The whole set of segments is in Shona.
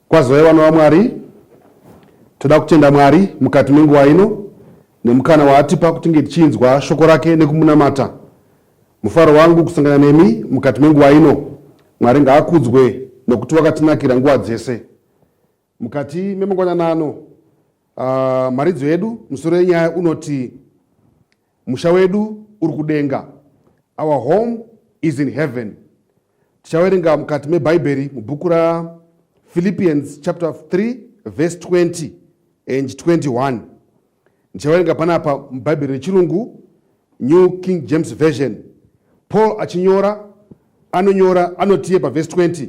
Kwazoi vana vaMwari, toda kutenda Mwari mukati menguva ino nemukana waatipa kuti tinge tichinzwa shoko rake nekumunamata. Mufaro wangu kusangana nemi mukati menguva ino. Mwari ngaakudzwe nokuti wakatinakira nguva dzese. Mukati memangwanana ano, uh, mharidzo yedu musoro yenyaya unoti Musha wedu uri kudenga. Our home is in heaven. Tichawerenga mukati meBhaibheri mubhuku raPhilippians chapter 3 verse 20 and 21. Ndichawerenga panapa muBhaibheri rechirungu New King James Version. Paul achinyora anonyora anotiye pavhesi 20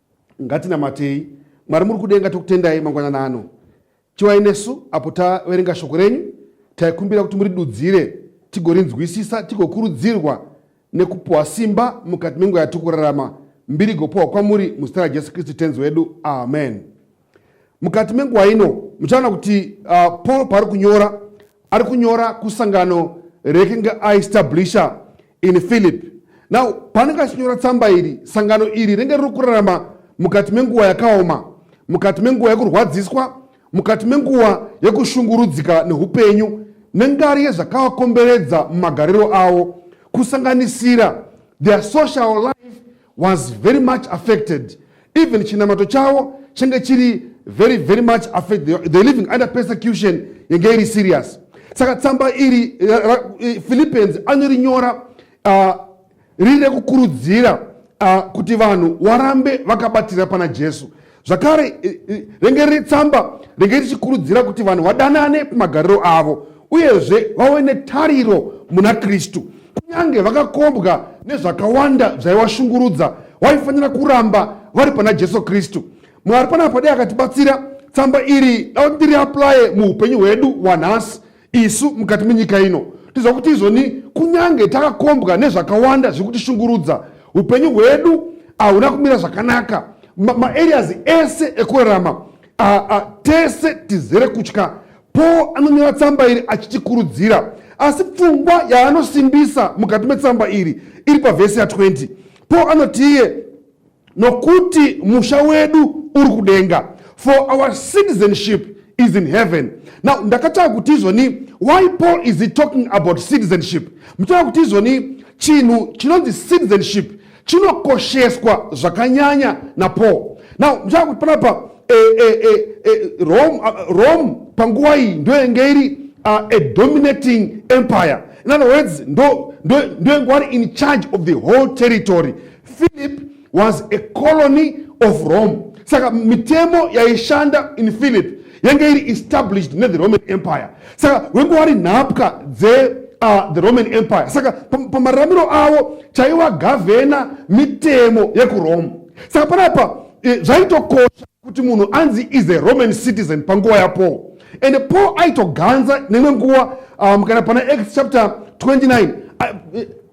Ngatinamatei. Mwari muri kudenga tokutendai mangwanana ano. Chivai nesu apo taverenga shoko renyu, taikumbira kuti muridudzire tigorinzwisisa tigokurudzirwa nekupuwa simba mukati menguva yatiri kurarama. Mbiri igopuwa kwamuri muzita raJesu Kristu Tenzi wedu. Amen. Mukati menguva ino muchaona kuti uh, Paul paari kunyora ari kunyora kusangano rekinge aestablisha in Philip. Now paanenge achinyora tsamba iri, sangano iri renge riri kurarama mukati menguva yakaoma, mukati menguva yekurwadziswa, mukati menguva yekushungurudzika neupenyu nengari yezvakawakomberedza mumagariro avo kusanganisira their social life was very much affected even chinamato chavo change chiri very very much affected they living under persecution yange iri serious saka tsamba iri philippians anorinyora uh, riri rekukurudzira uh, kuti vanhu warambe vakabatira pana jesu zvakare rengereri tsamba renge richikurudzira kuti vanhu vadanane pamagariro avo uyezve vave netariro muna kristu kunyange vakakombwa nezvakawanda zvaivashungurudza waifanira kuramba vari pana jesu kristu mwari panapa dai akatibatsira tsamba iri dava tiri aplaye muupenyu hwedu wanhasi Isu mukati menyika ino tiziva kuti izvoni kunyange takakombwa nezvakawanda zviri kutishungurudza upenyu hwedu hauna kumira zvakanaka maareas ma ese ekurarama tese tizere kutya paul anonyora tsamba iri achitikurudzira asi pfungwa yaanosimbisa mukati metsamba iri iri pavhesi ya 20 paul anoti iye nokuti musha wedu uri kudenga for our citizenship is in heaven now ndakatanga kuti izvoni why paul is he talking about citizenship mutanga kuti izvoni chinhu chinonzi citizenship chinokosheswa zvakanyanya napaul now mutanga kuti panapa e, e, e, e, rome, uh, rome panguva iyi ndoyenge iri uh, a dominating empire in other words ndoyenge ndo, ndo wari in charge of the whole territory Philip was a colony of Rome. Saka mitemo yaishanda in Philip yanga iri established ne the Roman Empire. Saka wenge wari nhapwa dze uh, the Roman Empire. Saka pamararamiro avo chaiwa gavhena mitemo yekuRome. Saka panapa eh, zvaitokosha kuti munhu anzi is a Roman citizen panguva yaPaul and Paul aitoganza nemwe nguva um, kana pana Acts chapter 29 uh,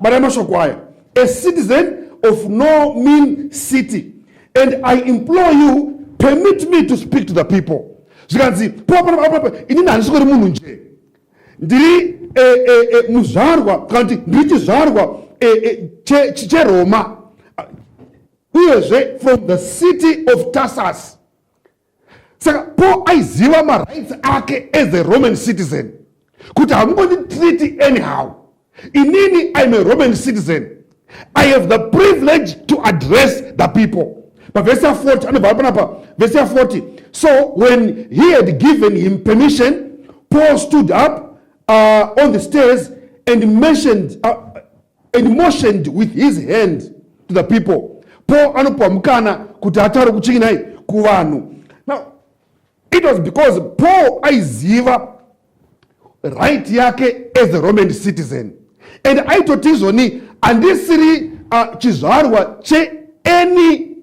mari yamashoko aya a citizen of no mean city and i implore you permit me to speak to the people zvikanzi poapanaaapa inini handisi kuri munhu nje ndiri e, e, e, muzvarwa kana kuti ndiri chizvarwa cheroma uyezve from the city of tasas saka paul aiziva marights ake as a roman citizen kuti hamungonditreati anyhow inini im a roman citizen i have the privilege to address the people pavhesi ya 40 anobva panapa vhesi ya 40 so when he had given him permission paul stood up uh, on the stairs and mentioned uh, and motioned with his hand to the people paul anopiwa mukana kuti ataure kuchingi nai kuvanhu now it was because paul aiziva right yake as a roman citizen and aitoti izvoni handisiri uh, chizvarwa cheany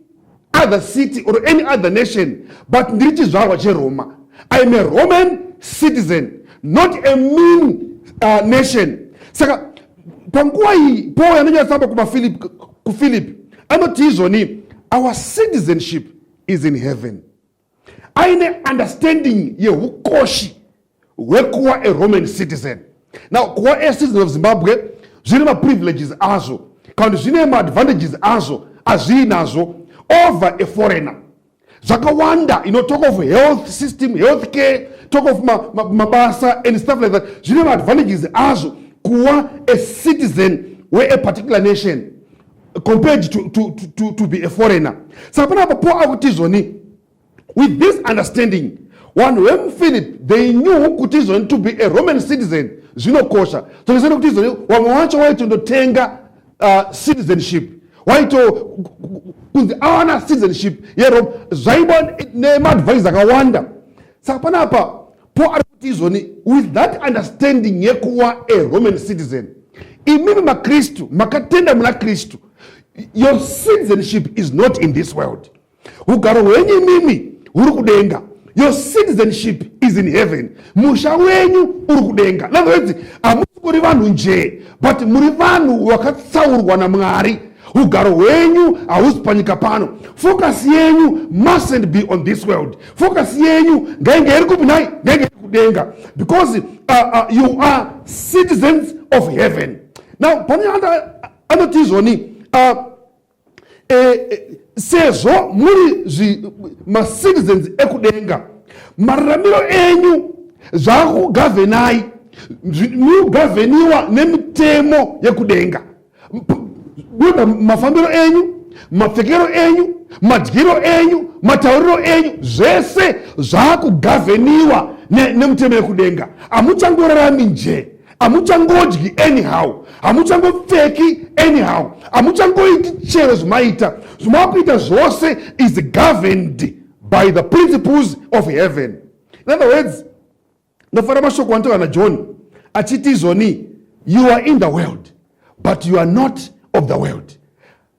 other city or any other nation but ndiri chizvarwa cheroma i am a roman citizen not a mean uh, nation saka panguva iyi paul anonyatsamba kumaphilip kuphilip anoti izvoni our citizenship is in heaven aine understanding yehukoshi hwekuva a roman citizen now kuva a citizen of zimbabwe zvine maprivileges azvo kana kuti zvine maadvantages azvo azvii nazvo over a foreigner zvakawanda you know, talk of health system health care talk of mabasa ma, ma and stuff like that zvine maadvantages azvo kuva a citizen weaparticular nation compared to, to, to, to, to be a foreigner saka panapa paul akutizvoni with this understanding vanhu vemuphilip they knew kuti izvoni to be a roman citizen zvinokosha tokisana kuti izvoni vamwe vacho waitondotenga uh, citizenship waito kunzi awana citizenship yerome zvaiba nemaadvise akawanda saka panapa Paul ari kuti izvoni with that understanding yekuwa a roman citizen imimi makristu makatenda muna kristu your citizenship is not in this world ugaro hwenyu imimi huri kudenga your citizenship is in heaven musha wenyu uri kudenga nanoedzi hamusi kuri vanhu njee but muri vanhu vakatsaurwa namwari ugaro hwenyu hausi panyika pano focus yenyu mustn't be on this world focus yenyu ngainge iri kupi nhai ngainge iri kudenga because uh, uh, you are citizens of heaven now pane anoti izvoni uh, eh, eh, sezvo muri macitizens ekudenga mararamiro enyu zvaakugavhenai mugavheniwa nemitemo yekudenga Buda mafambiro enyu, mapfekero enyu, madyiro enyu, matauriro enyu, zvese zvakugavheniwa nemutemo yekudenga. Hamuchangorarami njee hamuchangodyi anyhow hamuchangopfeki anyhow hamuchangoiti chero zvimaita zvimakuita zvose is governed by the principles of heaven in other words Ndofara mashoko anotaura naJohn achiti izvoni you are in the world but you are not of the world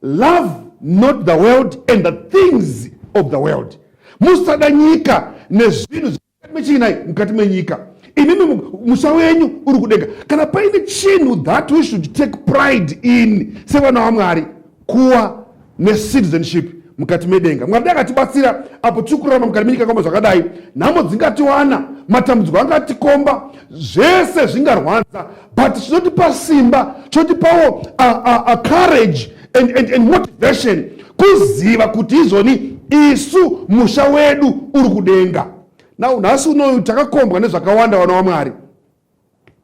love not the world and the things of the world musada nyika nezvinhu zvemukati mechiinai mukati menyika imimi musha wenyu uri kudenga kana paine chinhu that we should take pride in sevana wamwari kuwa necitizenship mukati medenga mwari dai akatibatsira apo tiri kurarama mukati menyika kamba zvakadai nhamo dzingatiwana matambudziko angatikomba zvese zvingarwadza but chinotipa simba chinotipawo courage and, and, and motivation kuziva kuti izvoni isu musha wedu uri kudenga now nhasi unoyu takakombwa nezvakawanda vana wamwari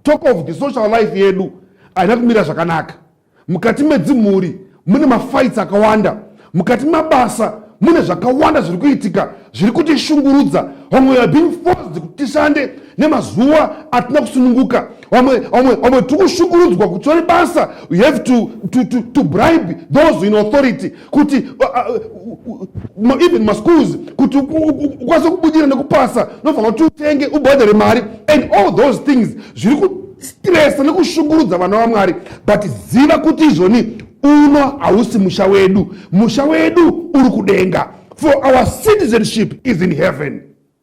talk of the social life yedu haina kumira zvakanaka mukati medzimhuri mune mafights akawanda mukati mabasa mune zvakawanda zviri kuitika zviri kutishungurudza vamwe are being forced kuti tishande nemazuva atina kusununguka vamwe vamwe vamwe tiri kushungurudzwa kuti tori basa you have to, to, to, to bribe those in authority kuti uh, uh, uh, even maschools kuti ukwanise kubudira nekupasa unofanira kuti utenge ubhadhare mari and all those things zviri kustresa nekushungurudza vana vamwari but ziva kuti izvoni uno hausi musha wedu musha wedu uri kudenga for our citizenship is in heaven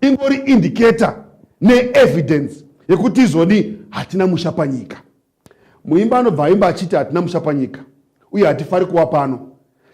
ingori indicator neevidence yekuti izoni hatina musha panyika muimba anobva aimba achiti hatina musha panyika uye hatifari kuva pano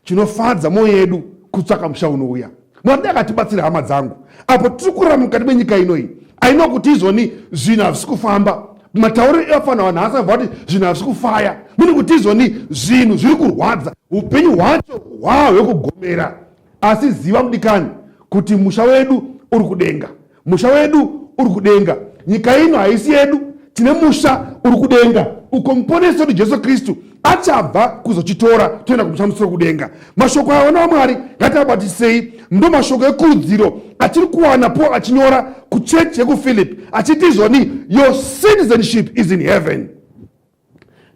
chinofadza mwoyo yedu kutsvaka musha unouya mwari akatibatsira hama dzangu apo tiri kurara mukati menyika inoyi aino kuti izoni zvinhu hazvisi kufamba matauriro evafanira vanhu haasi aibva kuti zvinhu hazvisi kufaya mune kuti izoni zvinhu zviri kurwadza upenyu hwacho hwaa hwekugomera asi ziva mudikani kuti musha wedu uri kudenga musha wedu uri kudenga nyika ino haisi yedu tine musha uri kudenga uko muponesi wedu jesu kristu achabva kuzochitora toenda kumusamusiro kudenga mashoko aya vana vamwari ngatiabatisei ndo mashoko ekurudziro atiri kuwana paul achinyora kuchechi yekuphilip achiti izvoni your citizenship is in heaven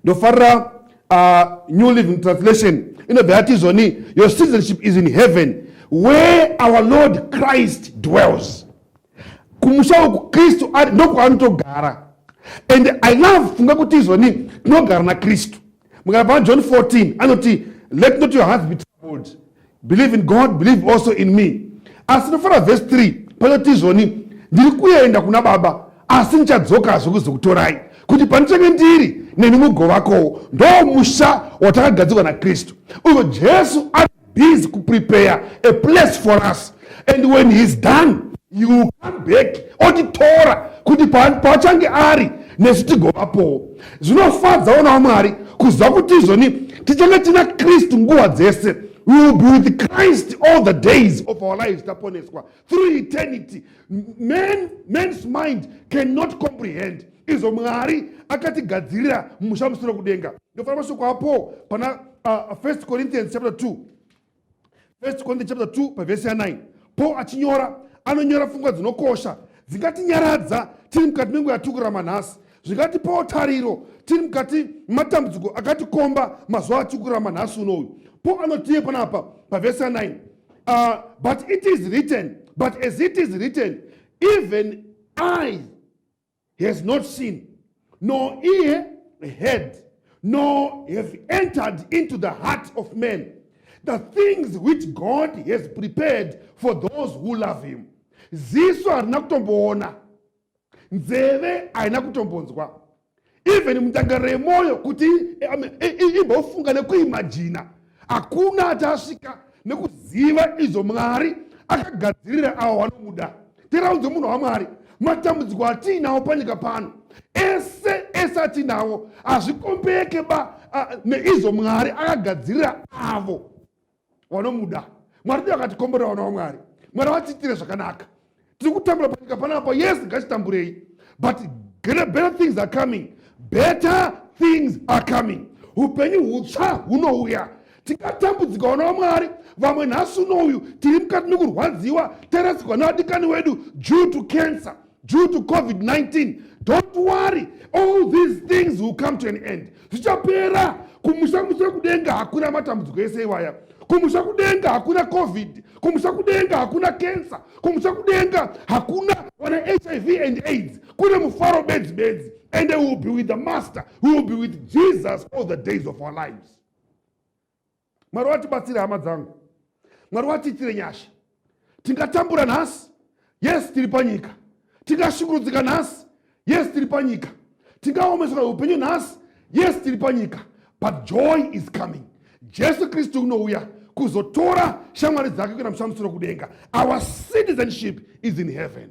ndofarira uh, new living translation inobva yati izvoni your citizenship is in heaven where our lord christ dwells kumusha uku kristu ari ndokwaanotogara and i love funga kuti izvoni tinogara nakristu mukana pana john 14 anoti let not your heart be troubled believe in god believe also in me asi nofara vhesi 3 panoti izvoni ndiri kuenda kuna baba asi ndichadzokazve kuzokutorai kuti pandichange ndiri nemi mugovakowo ndo musha watakagadzirwa nakristu uyo jesu ari busy kuprepare a place for us and when he is done he will come back otitora kuti paachange ari nesu tigovapowo zvinofadzawo nawo mwari kuziva kuti izvoni tichange tina kristu nguva dzese we will be with christ all the days of our lives taponeswa through eternity man, man's mind cannot comprehend izvo mwari akatigadzirira musha musoro kudenga ndofanira mashoko apo pana uh, 1 corinthians chapter 2 First Corinthians chapter 2 paverse ya 9 Paul achinyora anonyora pfungwa dzinokosha dzingatinyaradza tiri mukati menguva yatikurama nhasi zvingatipawo tariro tiri mukati matambudziko akatikomba mazuva atikurama nhasi uno uyu paul anotiye panapa pavhesi ya9 uh, but it is written but as it is written even i has not seen nor ear heard nor have entered into the heart of man the things which god has prepared for those who love him ziso harina kutomboona nzeve haina kutombonzwa even mudanga remwoyo kuti imbofunga nekuimajina hakuna achasvika nekuziva izvo mwari akagadzirira avo vanomuda tiraudze munhu wamwari matambudziko atiinawo panyika pano ese ese atiinawo hazvikombeke ba neizvo mwari akagadzirira avo vanomuda mwari ndiyo akatikomborera vana vamwari mwari vatiitire zvakanaka tiri kutambura panyika panapa yes ngachitamburei but greater better things are coming better things are coming upenyu hutsva hunouya tingatambudzika vana vamwari vamwe nhasi uno uyu tiri mukati mekurwadziwa tarasikwa nevadikani wedu due to cancer due to covid-19 don't worry all these things will come to an end zvichapera kumusha musha kudenga hakuna matambudziko ese iwaya kumusha kudenga hakuna covid kumusha kudenga hakuna kensa kumusha kudenga hakuna wana hiv and aids kune mufaro bedzi bedzi and will be with the master will be with jesus all the days of our lives mwari watibatsire hama dzangu mwari watiitire nyasha tingatambura nhasi yes tiri panyika tingashungurudzika nhasi yes tiri panyika tingaomeswa upenyu nhasi yes tiri panyika but joy is coming jesu kristu unouya kuzotora shamwari dzake kuenda mushamusiro kudenga our citizenship is in heaven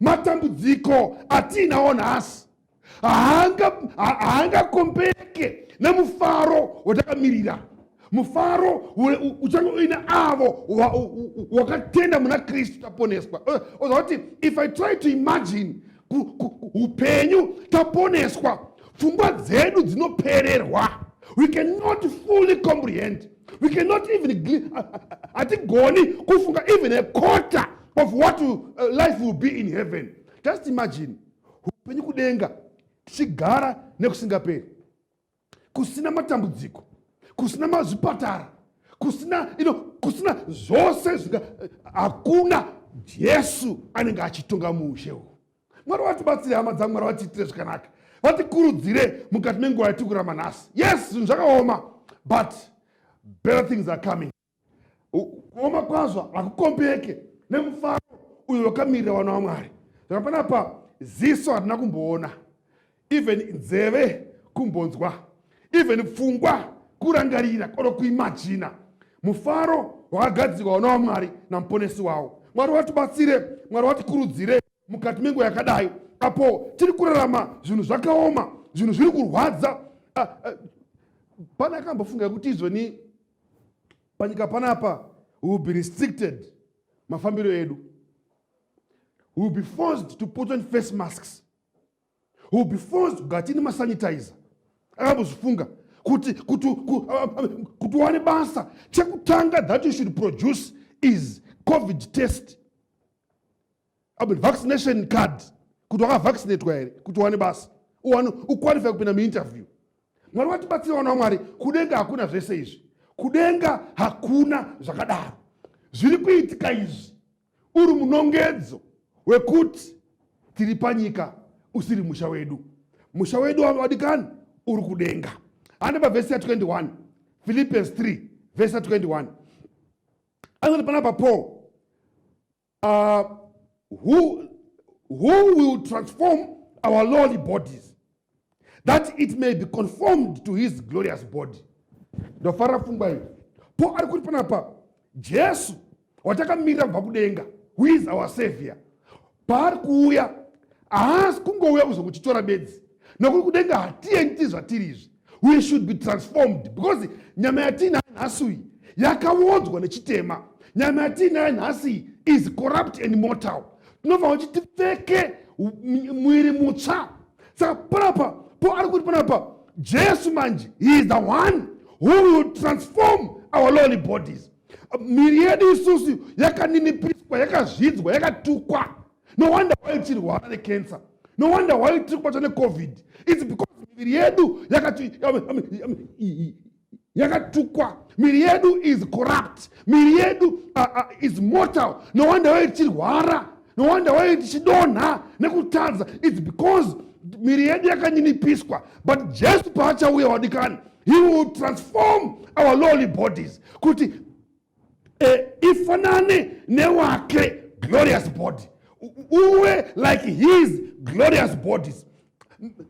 matambudziko atiinawo nhasi haangakombereke nemufaro watakamirira mufaro uchange uine avo wakatenda muna kristu taponeswa eh, oza kuti if i try to imagine upenyu taponeswa pfungwa dzedu dzinopererwa we cannot fully comprehend we cannot even hatigoni kufunga even a quarter of what uh, life will be in heaven just imagine upenyu kudenga tichigara nekusingaperi kusina matambudziko kusina mazvipatara kusina ino kusina zvose zvinga eh, hakuna jesu anenge achitonga muushe uhu mwari vatibatsire hama dzangu mwari vatiitire zvakanaka vatikurudzire mukati menguva yatikurama nhasi yes zvinhu zvakaoma but better things are coming kuoma kwazvo hakukombeke nemufaro uyo wakamirira vana vamwari saka panapa ziso hatina kumboona even nzeve kumbonzwa even pfungwa kurangarira or kuimajina mufaro wakagadzirwa vana vamwari namuponesi wavo mwari watibatsire mwari watikurudzire mukati menguva yakadai apo tiri kurarama zvinhu zvakaoma zvinhu zviri kurwadza ah, ah, pane akambofunga kuti izvoni panyika panapa we will be restricted mafambiro edu we will be forced to put on face masks we will be forced kugara tiine masanitizer akambozvifunga kuti kuti kuti uwane basa chekutanga that you should produce is covid test Abel, vaccination card kuti wakavaccinatwa here kuti uwane basa uwane uqualify kupinda muinterview mwari watibatsira vana wamwari kudenga hakuna zvese izvi kudenga hakuna zvakadaro zviri kuitika izvi uri munongedzo wekuti tiri panyika usiri musha wedu musha wedu wadikani uri kudenga hande pavhesi ya 21 philippians 3 vhesi ya 21 anoti panapa paul uh, who, who will transform our lowly bodies that it may be conformed to his glorious body ndofara pfungwa iyi po ari kuti panapa jesu watakamirira kubva kudenga who is our savior paari kuuya haasi kungouya kuzokuchitora bedzi nokuti kudenga hatiendi zvatiri izvi we should be transformed because nyama yatiinayo nhasi uyi yakaodzwa nechitema nyama yatiinayo nhasi is corrupt and mortal tinofanira kuti tipfeke mwiri mutsva saka panapa po ari kuti panapa jesu manje he is the one who will transform our lowly bodies miri yedu isusu yakaninipiswa yakazvidzwa yakatukwa no wonder why tichirwara necancer no wonder why tiri kubatwa necovid its because miviri yedu yakatukwa miri yedu is corrupt miri yedu uh, uh, is mortal no wonder why tichirwara no wonder why tichidonha nekutadza its because miri yedu yakanyinipiswa but jesu paachauya wadikani he will transform our lowly bodies kuti e, ifanane newake glorious body uwe like his glorious bodies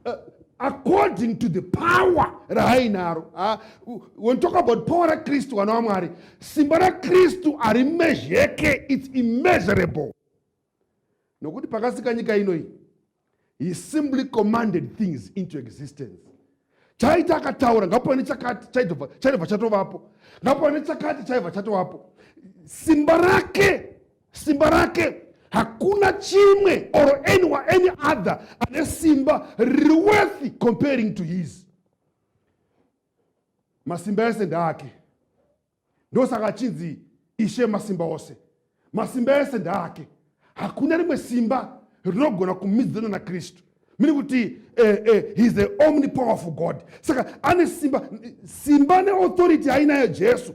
uh, according to the power raainaro ah, when talk about power rakristu vana wamwari simba rakristu harimezheke its immeasurable nokuti pakasika nyika ino iyi he simply commanded things into existence chaita akataura ngapo nechakati chaitobva chatovapo ngapo nechakati chaibva chatovapo simba rake simba rake hakuna chimwe or any, any other ane simba riri worthy comparing to his masimba ese ndaake ndosaka achinzi ishe masimba ose masimba ese ndaake hakuna rimwe simba rinogona kumidzana nakristu mini kuti eh, eh, heis the omni powerful god saka ane simba simba neauthority ainayo jesu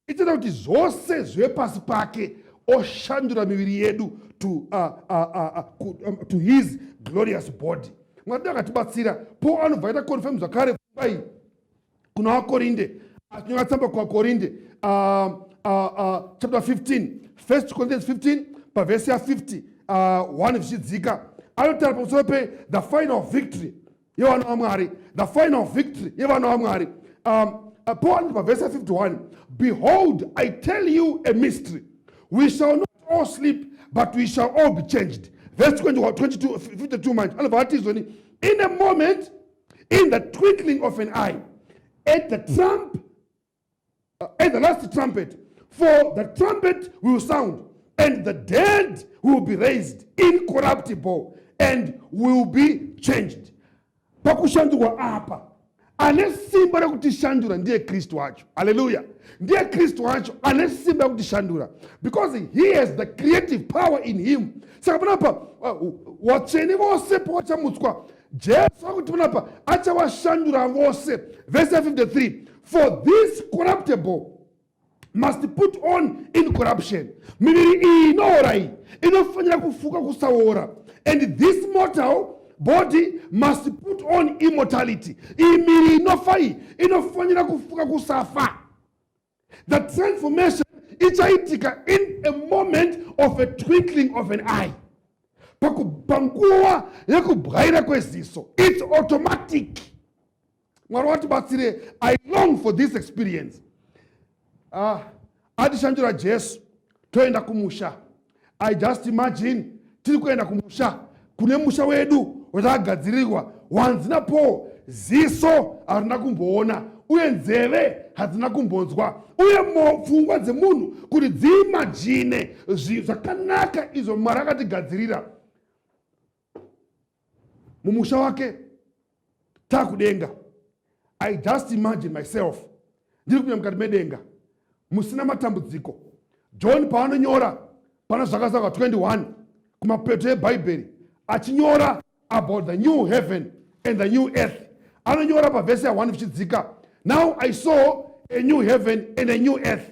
ichaita kuti zvose zvive pasi pake oshandura miviri yedu to, uh, uh, uh, uh, um, to his glorious body mwari akatibatsira po anobva aita confirm zvakare pfungwa iyi kuna vakorinde achinyora tsamba kuvakorinde uh, uh, uh, chapter 15 first corinthians 15 pavhesi ya 50 uh, 1 zvichidzika anotaura pamusoro pe the final victory yevana vamwari the final victory yevana vamwari um, uh, pawanzi pavhesi ya 51 behold i tell you a mystery we shall not all sleep but we shall all be changed vhesi 22 manje anobva vatizoni in a moment in the twinkling of an eye at the trump uh, at the last trumpet for the trumpet will sound and the dead will be raised incorruptible and will be changed pakushandurwa apa ane simba rekutishandura ndiye kristu wacho aleluya ndiye kristu wacho ane simba rekutishandura because he has the creative power in him saka panapa uh, watsvene vose pavachamutswa Jesu akuti panapa achawashandura vose. Verse 53 for this corruptible must put on incorruption miviri iyi inoora iyi inofanira kufuka kusaora and this mortal body must put on immortality iyi miri inofa iyi inofanira kufuka kusafa The transformation ichaitika in a moment of a twinkling of an eye. Panguva yekubwaira kweziso. It's automatic. Mwari watibatsire. I long for this experience. Ah, atishandura Jesu toenda kumusha. i just imagine tiri kuenda kumusha kune musha wedu watakagadzirirwa wanzi napaul ziso harina kumboona uye nzeve hadzina kumbonzwa uye pfungwa dzemunhu kuti dziimajine zvakanaka izvo mwari akatigadzirira mumusha wake takudenga i just imagine myself ndiri kunya mukati medenga musina matambudziko john paanonyora pana zvakazaka 21 kumapeto ebhaibheri achinyora about the new heaven and the new earth anonyora pavhese ya1 vichidzika now i saw a new heaven and a new earth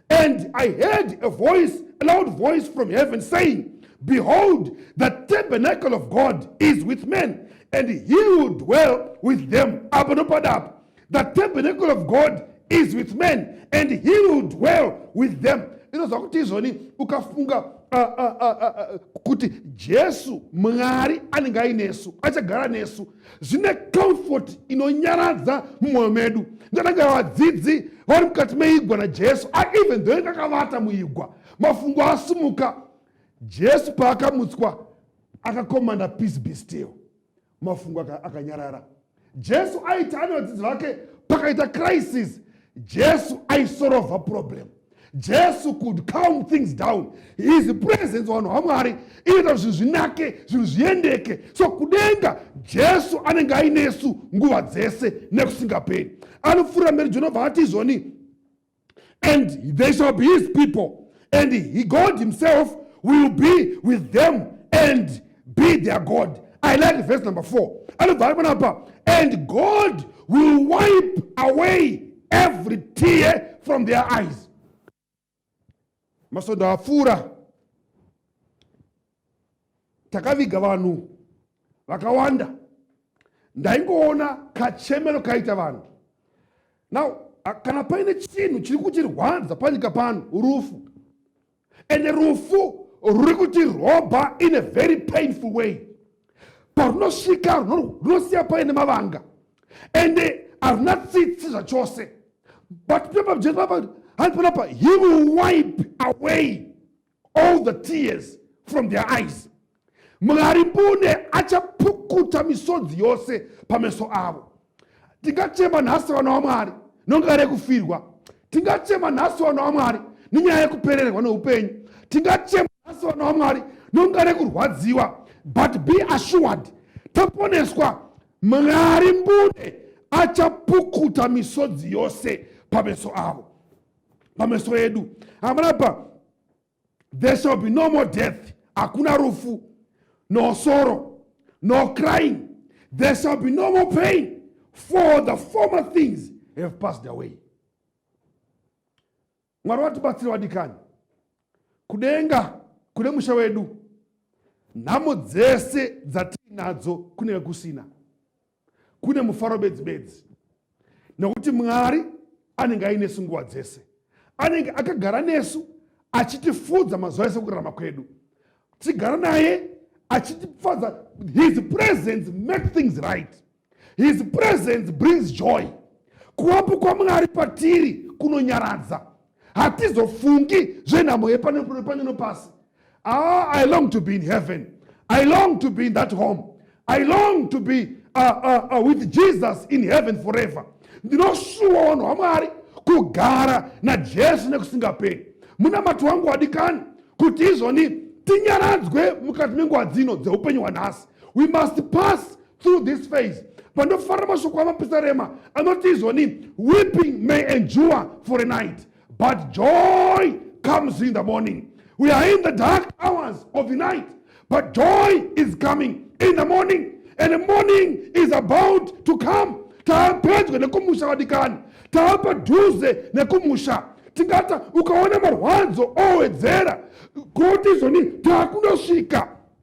And I heard a voice, a loud voice from heaven saying, Behold, the tabernacle of God is with men, and he will dwell with them. Apa ndopada apa. The tabernacle of God is with men, and he will dwell with them. Inozva kuti izvoni ukafunga kuti Jesu Mwari anenge ainesu, achagara nesu. zvine comfort inonyaradza mumwoyo medu ndananga vadzidzi vari mukati meigwa najesu even though inge akavata muigwa mafungo asumuka jesu paakamutswa akakomanda peace be still mafungo akanyarara jesu aiti ane vadzidzi vake pakaita crisis jesu aisorovha problem jesu could calm things down his presence vanhu vamwari inoita kuti zvinhu zvinake zvinhu zviendeke so kudenga jesu anenge ainesu nguva dzese nekusingaperi anopfuura mberi jonobva ati izvoni and they shall be his people and he god himself will be with them and be their god i like verse number 4 anobva ari panapa and god will wipe away every tear from their eyes masondo apfuura takaviga vanhu vakawanda ndaingoona kachemero kaita vanhu now kana paine chinhu chiri kutirwadza panyika pano rufu and rufu ruri kuti roba in a very painful way parunosvika runosiya paine mavanga and haruna tsitsi zvachose but papa jesu papa hanzi panapa he will wipe away all the tears from their eyes Mwari mbune achapukuta misodzi yose pameso avo. Tingachema nhasi vana waMwari nonyaya rekufirwa. Tingachema nhasi vana waMwari nenyaya yekupererwa neupenyu. Tingachema nhasi vana waMwari nonyaya rekurwadziwa. But be assured taponeswa Mwari mbune achapukuta misodzi yose pameso avo. Pameso edu. Hamuna pa there shall be no more death hakuna rufu no sorrow no crying there shall be no more pain for the former things have passed away mwari vatibatsira vadikani kudenga kune musha wedu nhamo dzese dzatiinadzo kunenge kusina kune mufaro bedzi bedzi nokuti mwari anenge ainesu nguva dzese anenge akagara nesu achitifudza mazuva ese kurarama kwedu tigara naye achitifadza his presence make things right his presence brings joy kuwapo kwamwari patiri kunonyaradza hatizofungi zvenhamo yepano nepasi ah, i long to be in heaven i long to be in that home i long to be uh, uh, uh, with jesus in heaven forever ndinoshuwa wanhu wamwari kugara najesu nekusingaperi munamato wangu wadikani kuti izvoni tinyaradzwe mukati menguva dzino dzeupenyu hwanhasi we must pass through this phase pandofarira mashoko amapisarema anoti izvoni weeping may endure for a night but joy comes in the morning we are in the dark hours of the night but joy is coming in the morning and the morning is about to come taapedyo nekumusha vadikani taapadhuze nekumusha tingata ukaona marwadzo owedzera koti izvoni taakundosvika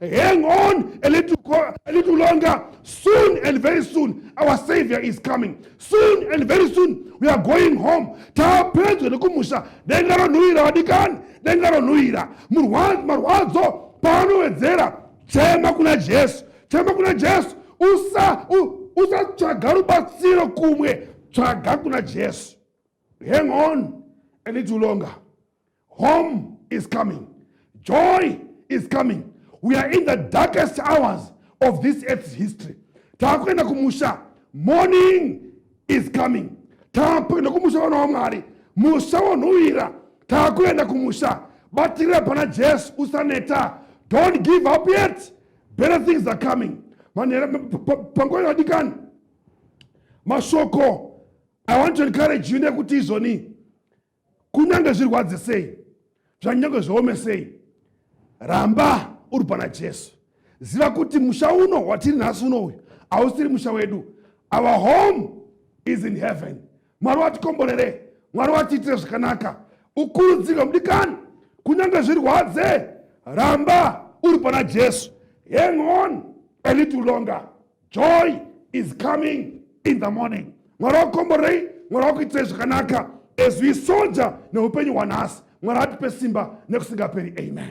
Hang on a little, a little longer. Soon and very soon, our Savior is coming. Soon and very soon, we are going home. Tapedzwa nekumusha denga ronhuwira vadikani, denga ronhuwira. Marwadzo paanowedzera, chema kuna Jesu, chema kuna Jesu. Usa usatsvaga rubatsiro kumwe, tsvaga kuna Jesu. Hang on a little longer. Home is coming. Joy is coming. We are in the darkest hours of this earth's history. Takuenda kumusha. Morning is coming. Takuenda kumusha vana waMwari. Musha wonhuwira. Takuenda kumusha. Batira pana Jesu usaneta. Don't give up yet. Better things are coming. Panguva yadikani. Mashoko I want to encourage you nekuti izoni kunyange zvirwadze sei zvanyange zviome sei ramba uri pana jesu ziva kuti musha uno watiri nhasi uno uyu hausiri musha wedu our home is in heaven mwari watikomborere mwari watiitire zvakanaka ukurudzirwe mudikani kunyange zvirwadze ramba uri pana jesu hang on a little longer joy is coming in the morning mwari wakukomborei mwari wakuitirei zvakanaka as we soldier neupenyu hwanhasi mwari atipe simba nekusingaperi amen